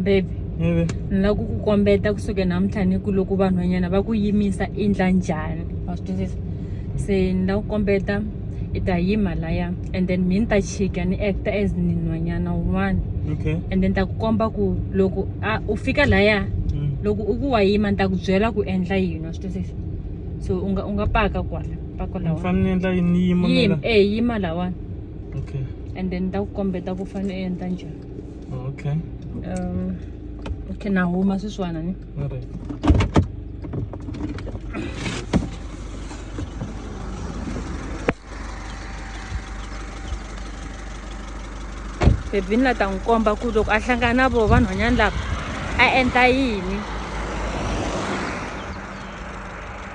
baby ni lava ku ku kombeta kusuke namuntlha ni ku loko vanhwanyana va ku yimisa i ndla njhani wa swi twisisa se ni lava ku kombeta i ta yima laya and then mi ni ta chika ni acta as ni nhwanyana wun'wana okay and then ta ku komba ku loko a u fika laya mm. loko u ku wa yima ni ta ku byela ku endla yini wa swi twisisa so u nga u nga paka kwala pako ni lawa fanele ni endla yini ni yima yima mina eh yima lawani okay and then ni ta ku kombeta ku fanele u endla njhani okay um okay na huma sweswiwana ni all right bebini la ta n'wi komba ku loko a hlangana na vona vanhwanyana lava a endla yini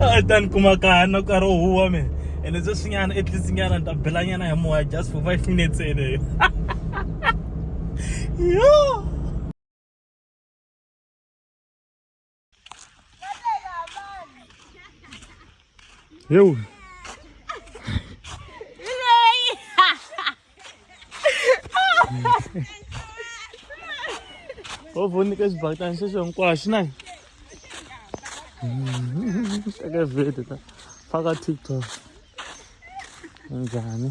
a tani kuma kahana ka ro huwa me and it's just nyana at least nyana nda bela nyana ya moya just for 5 minutes ene yo yo Ho voni ka xibakitani xexo hinkwaxo na teka video ta faka tiktok njhani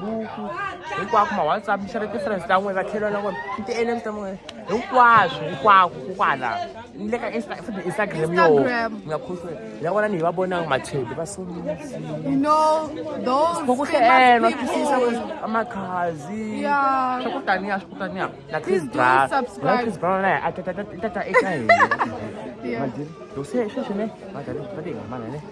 buku hinkwako ma whatsapp xi ri ti-friends ta n'wina vatlhelo na n'wina ti-nm ta n'wina hinkwaswo hinkwako kokwala ni le ka futhi instagram yo nga khoswe ya vona ni hi va vonanga machedi va sokokuhleenwa twisisa makhazi swa ku taniya swa ku taniya na chris brown na chris brown naye a tata eka hina madiri yo se sweswi ne madari va ti hambana ne